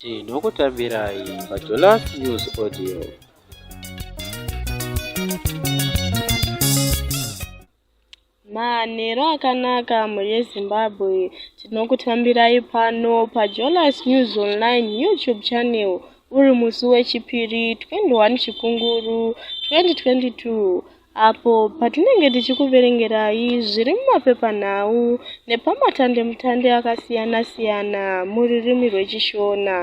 tinokutambirai pajolas news audio manhero akanaka mhuri yezimbabwe tinokutambirai pano pajolas news online youtube channel uri musi wechipiri 21 chikunguru 2022 apo patinenge tichikuverengerai zviri mumapepanhau nepamatandemutande akasiyana-siyana mururimi rwechishona.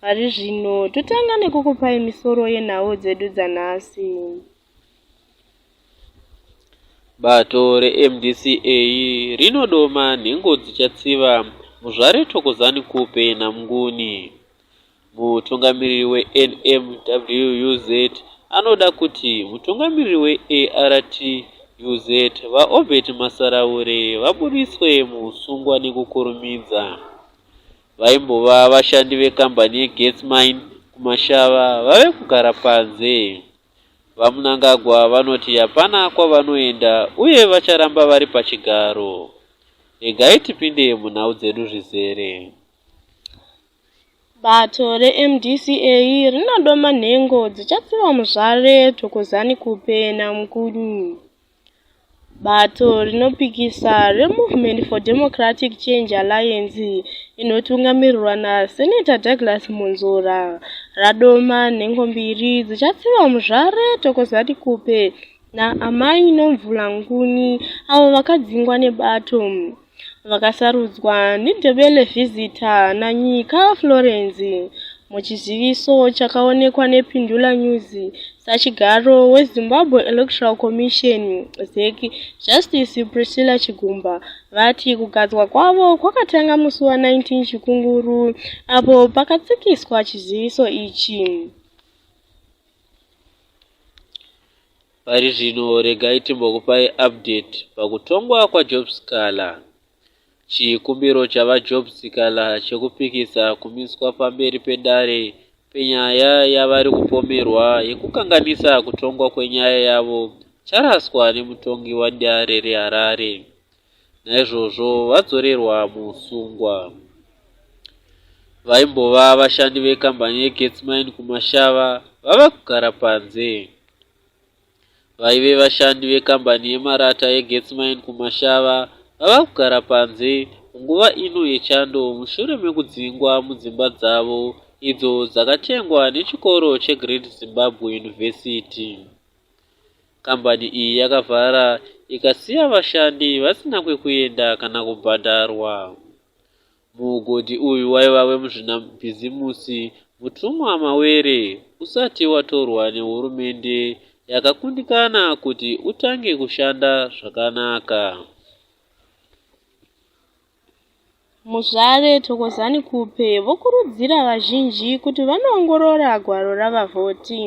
Pari zvino totanga nekukupai misoro yenhau dzedu dzanhasi. Bato reMDCA rinodoma nhengo dzichatsiva Muzvare Thokozani Khupe naMnguni. Mutungamiriri weNMWUZ anoda kuti mutungamiriri weARTUZ, VaObert Masaraure, vabudiswe muhusungwa nekukurumidza. Vaimbova vashandi vekambani yeGets Mine kuMashava vave kugara panze. VaMnangagwa vanoti hapana kwavanoenda uye vacharamba vari pachigaro. Regai tipinde munhau dzedu zvizere. Bato reMDCA rinodoma nhengo dzichatsiva muzvare Thokozani Khupe naMkuni. Bato rinopikisa reMovement for Democratic Change Alliance inotungamirirwa naSeneta Douglas Munzora radoma nhengo mbiri dzichatsiva muzvare Thokozani Khupe naAmai Nomvula Nguni avo vakadzingwa nebato vakasarudzwa neNdebele Visitor naNyika Florence muchiziviso chakaonekwa nePindula News sachigaro weZimbabwe Electoral Commission ZEC Justice Priscilla Chigumba vati kugadzwa kwavo kwakatanga musi wa 19 Chikunguru apo pakatsikiswa chiziviso ichi. Pari zvino regai timbokupai update pakutongwa kwaJob Sikhala. Chikumbiro chaVaJob Sikhala chekupikisa kumiswa pamberi pedare penyaya yavari kupomerwa yekukanganisa kutongwa kwenyaya yavo charaswa nemutongi wadare reHarare, naizvozvo vadzorerwa muusungwa. Vaimbova vashandi vekambani yeGetsmine kuMashava vava kugara panze. Vaive vashandi vekambani yemarata yeGetsmine kuMashava vava kugara panze munguva ino yechando mushure mekudzingwa mudzimba dzavo idzo dzakatengwa nechikoro cheGreat Zimbabwe University. Kambani iyi yakavhara ikasiya vashandi vasina kwekuenda kana kubhadharwa. Muugodhi uyu waiva wemuzvinabhizimusi Mutumwa Mawere usati watorwa nehurumende yakakundikana kuti utange kushanda zvakanaka. Muzvare Thokozani Khupe vokurudzira vazhinji kuti vanoongorora gwaro ravavhoti.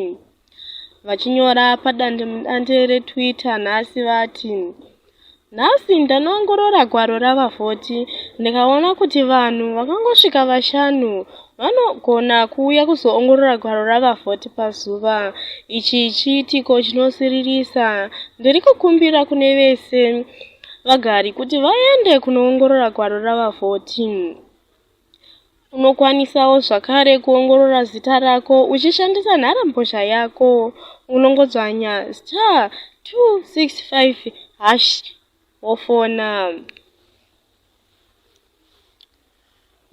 Vachinyora padandemudande reTwitter nhasi vati, Nhasi ndanoongorora gwaro ravavhoti ndikaona kuti vanhu vakangosvika vashanu vanogona kuuya kuzoongorora gwaro ravavhoti pazuva. Ichi chiitiko chinosiririsa. Ndiri kukumbira kune vese vagari kuti vaende kunoongorora gwaro rava 14. Unokwanisawo zvakare kuongorora zita rako uchishandisa nharambozha yako unongodzvanya star 265 hash wofona.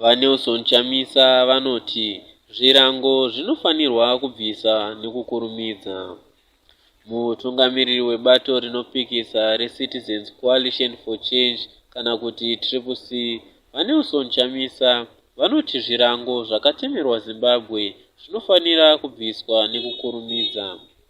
VaNelson Chamisa vanoti zvirango zvinofanirwa kubvisa nekukurumidza. Mutungamiriri webato rinopikisa reCitizens Coalition for Change kana kuti Triple C, VaNelson Chamisa vanoti zvirango zvakatemerwa Zimbabwe zvinofanira kubviswa nekukurumidza.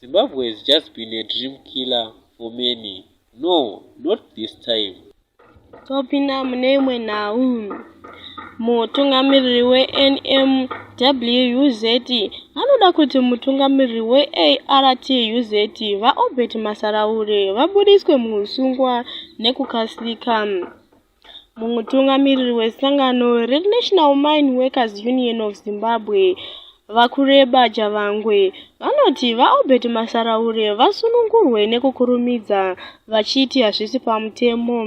Zimbabwe has just been a dream killer for many. No, not this time. Topinda mune imwe nhau. Mutungamiriri weNMWUZ anoda kuti mutungamiriri weARTUZ VaObert Masaraure vabudiswe muhusungwa nekukasika. Mutungamiriri wesangano reNational Mine Workers Union of Zimbabwe, VaKureba Javangwe, vanoti VaObert Masaraure vasunungurwe nekukurumidza vachiti hazvisi pamutemo.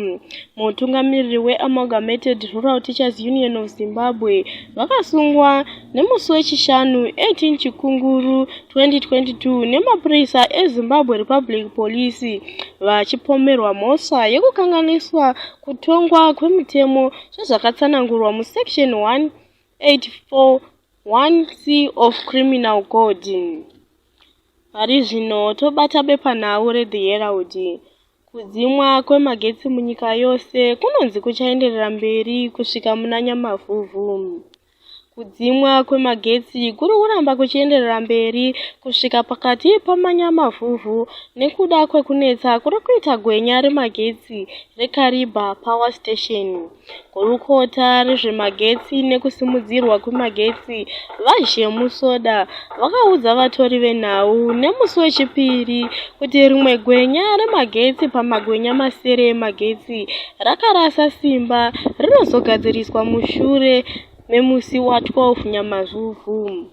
Mutungamiriri weAmalgamated Rural Teachers Union of Zimbabwe vakasungwa nemusi wechishanu 18 chikunguru 2022 nemapurisa ezimbabwe republic police vachipomerwa mhosva yekukanganiswa kutongwa kwemitemo sezvakatsanangurwa musection 1841c of criminal code pari zvino tobata bepanhau rethe herald kudzimwa kwemagetsi munyika yose kunonzi kuchaenderera mberi kusvika muna nyamavhuvhu Kudzimwa kwemagetsi kuri kuramba kuchienderera mberi kusvika pakati pamanyamavhuvhu nekuda kwekunetsa kuri kuita gwenya remagetsi reKariba Power Station. Gurukota rezvemagetsi nekusimudzirwa kwemagetsi, VaZhemu Soda, vakaudza vatori venhau nemusi wechipiri kuti rimwe gwenya remagetsi pamagwenya masere emagetsi rakarasa simba rinozogadziriswa mushure memusi wa12 nyamazvuvhu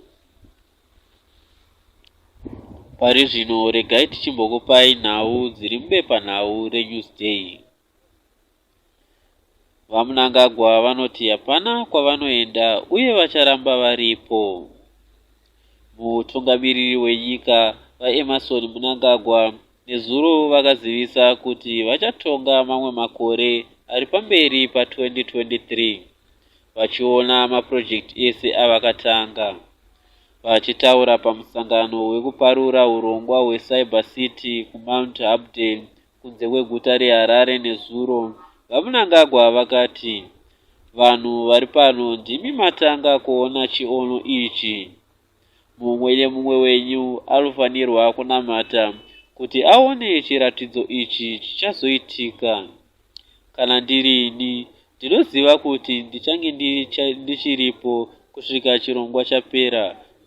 pari zvino regai tichimbokupai nhau dziri mubepanhau renewsday VaMnangagwa vanoti hapana kwavanoenda uye vacharamba varipo. Mutungamiriri wenyika VaEmmerson Mnangagwa nezuro vakazivisa kuti vachatonga mamwe makore ari pamberi pa2023 vachiona mapurojekiti ese avakatanga. Vachitaura pamusangano wekuparura urongwa hweCyber City kuMount Hampden kunze kweguta reharare nezuro vamnangagwa vakati vanhu vari pano ndimi matanga kuona chiono ichi mumwe nemumwe wenyu anofanirwa kunamata kuti aone chiratidzo ichi chichazoitika Kana ndiri ini, ndinoziva kuti ndichange ndichiripo kusvika chirongwa chapera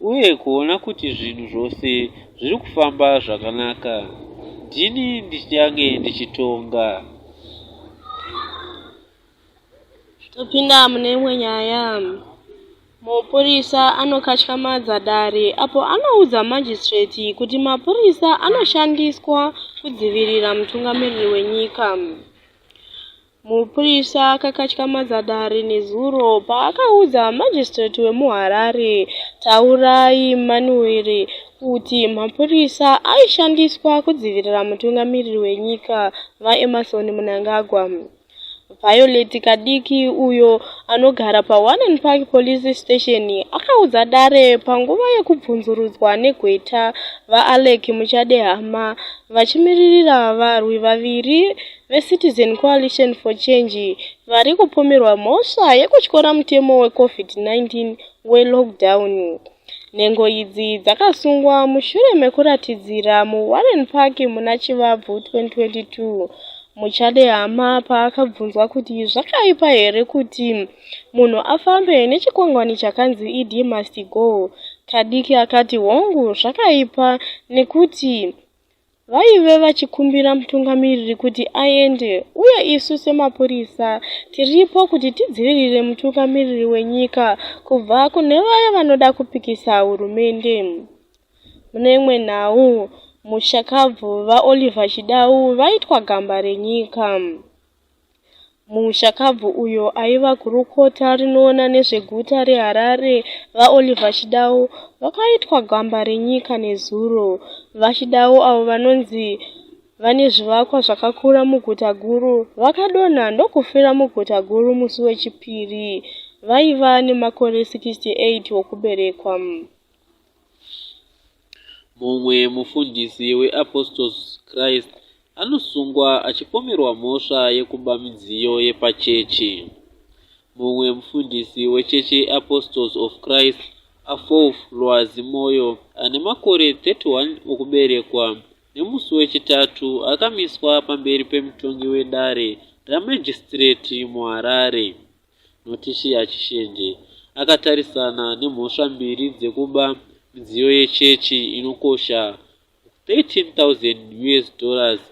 uye kuona kuti zvinhu zvose zviri kufamba zvakanaka. Ndini ndichange ndichitonga. Topinda mune imwe nyaya. Mupurisa anokatyamadza dare apo anoudza majistireti kuti mapurisa anoshandiswa kudzivirira mutungamiriri wenyika. Mupurisa akakatyamadza dare nezuro paakaudza majistireti wemuHarare, Taurai Manuwere, kuti mapurisa aishandiswa kudzivirira mutungamiriri wenyika, VaEmmerson Mnangagwa. Violet Kadiki, uyo anogara paWarren Park Police Station, akaudza dare panguva yekubvunzurudzwa negweta VaAleck Muchadehama vachimiririra varwi vaviri veCitizen Coalition for Change vari kupomerwa mhosva yekutyora mutemo weCovid-19 welockdown. Nhengo idzi dzakasungwa mushure mekuratidzira muWarren Park muna Chivabvu 2022 Muchadehama paakabvunzwa kuti zvakaipa here kuti munhu afambe nechikwangwani chakanzi ED must go, Kadiki akati hongu zvakaipa nekuti Vaive vachikumbira mutungamiriri kuti aende uye isu semapurisa tiripo kuti tidzivirire mutungamiriri wenyika kubva kune vaya vanoda kupikisa hurumende. Mune imwe nhau, mushakabvu vaOliver Chidau vaitwa gamba renyika. Mushakabvu uyo aiva gurukota rinoona nezveguta reHarare, VaOliver Chidau, vakaitwa gamba renyika nezuro. VaChidau, avo vanonzi vane zvivakwa zvakakura muguta guru, vakadonha ndokufira muguta guru musi weChipiri. Vaiva nemakore 68 okuberekwa. Mumwe mufundisi weApostles Christ anosungwa achipomerwa mhosva yekuba midziyo yepachechi. Mumwe mufundisi wechechi yeApostles of Christ, Afof Lwazi Moyo, ane makore 31 okuberekwa, nemusi weChitatu akamiswa pamberi pemutongi wedare remagistrate muHarare. Notishiya Chishenje akatarisana nemhosva mbiri dzekuba midziyo yechechi inokosha 13,000 US dollars.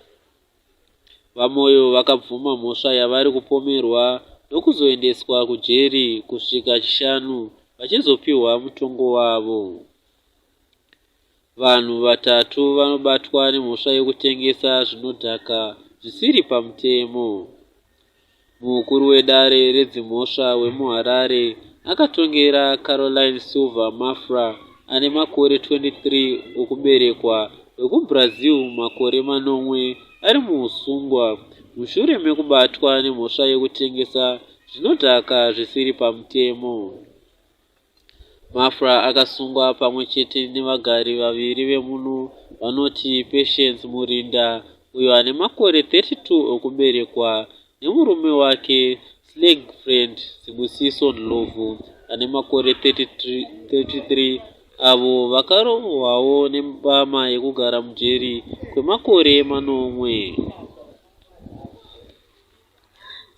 VaMoyo vakabvuma mhosva yavari kupomerwa ndokuzoendeswa kujeri kusvika Chishanu vachizopiwa mutongo wavo. Vanhu vatatu vanobatwa nemhosva yekutengesa zvinodhaka zvisiri pamutemo. Mukuru wedare redzimhosva wemuHarare akatongera Caroline Silva Mafra ane makore 23 okuberekwa wekuBrazil makore manomwe ari muusungwa mushure mekubatwa nemhosva yekutengesa zvinodhaka zvisiri pamutemo. Mafra akasungwa pamwe chete nevagari vaviri vemuno vanoti Patience Murinda uyo ane makore 32 okuberekwa nemurume wake Slagfriend Sibusiso Ndlovu ane makore 33 avo vakarohwawo nembama yekugara mujeri kwemakore manomwe.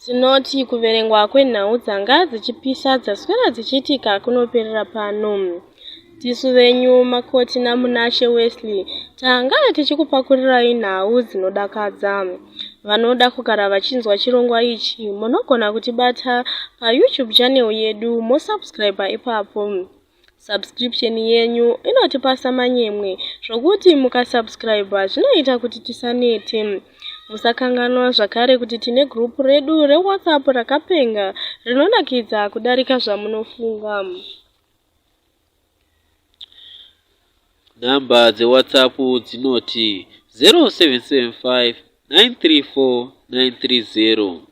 Tinoti kuverengwa kwenhau dzanga dzichipisa dzaswera dzichiitika kunoperera pano. Tisu venyu Makoti naMunashe Wesley tanga tichikupakurirai nhau dzinodakadza. Vanoda kugara vachinzwa chirongwa ichi munogona kutibata paYouTube channel yedu mosubscriber ipapo. Subscription yenyu inotipasa manyemwe zvokuti mukasubscriba zvinoita kuti tisanete. Musakanganwa zvakare kuti tine group redu reWhatsApp rakapenga rinonakidza kudarika zvamunofunga. Nhamba dzeWhatsApp dzinoti 0775 934 930.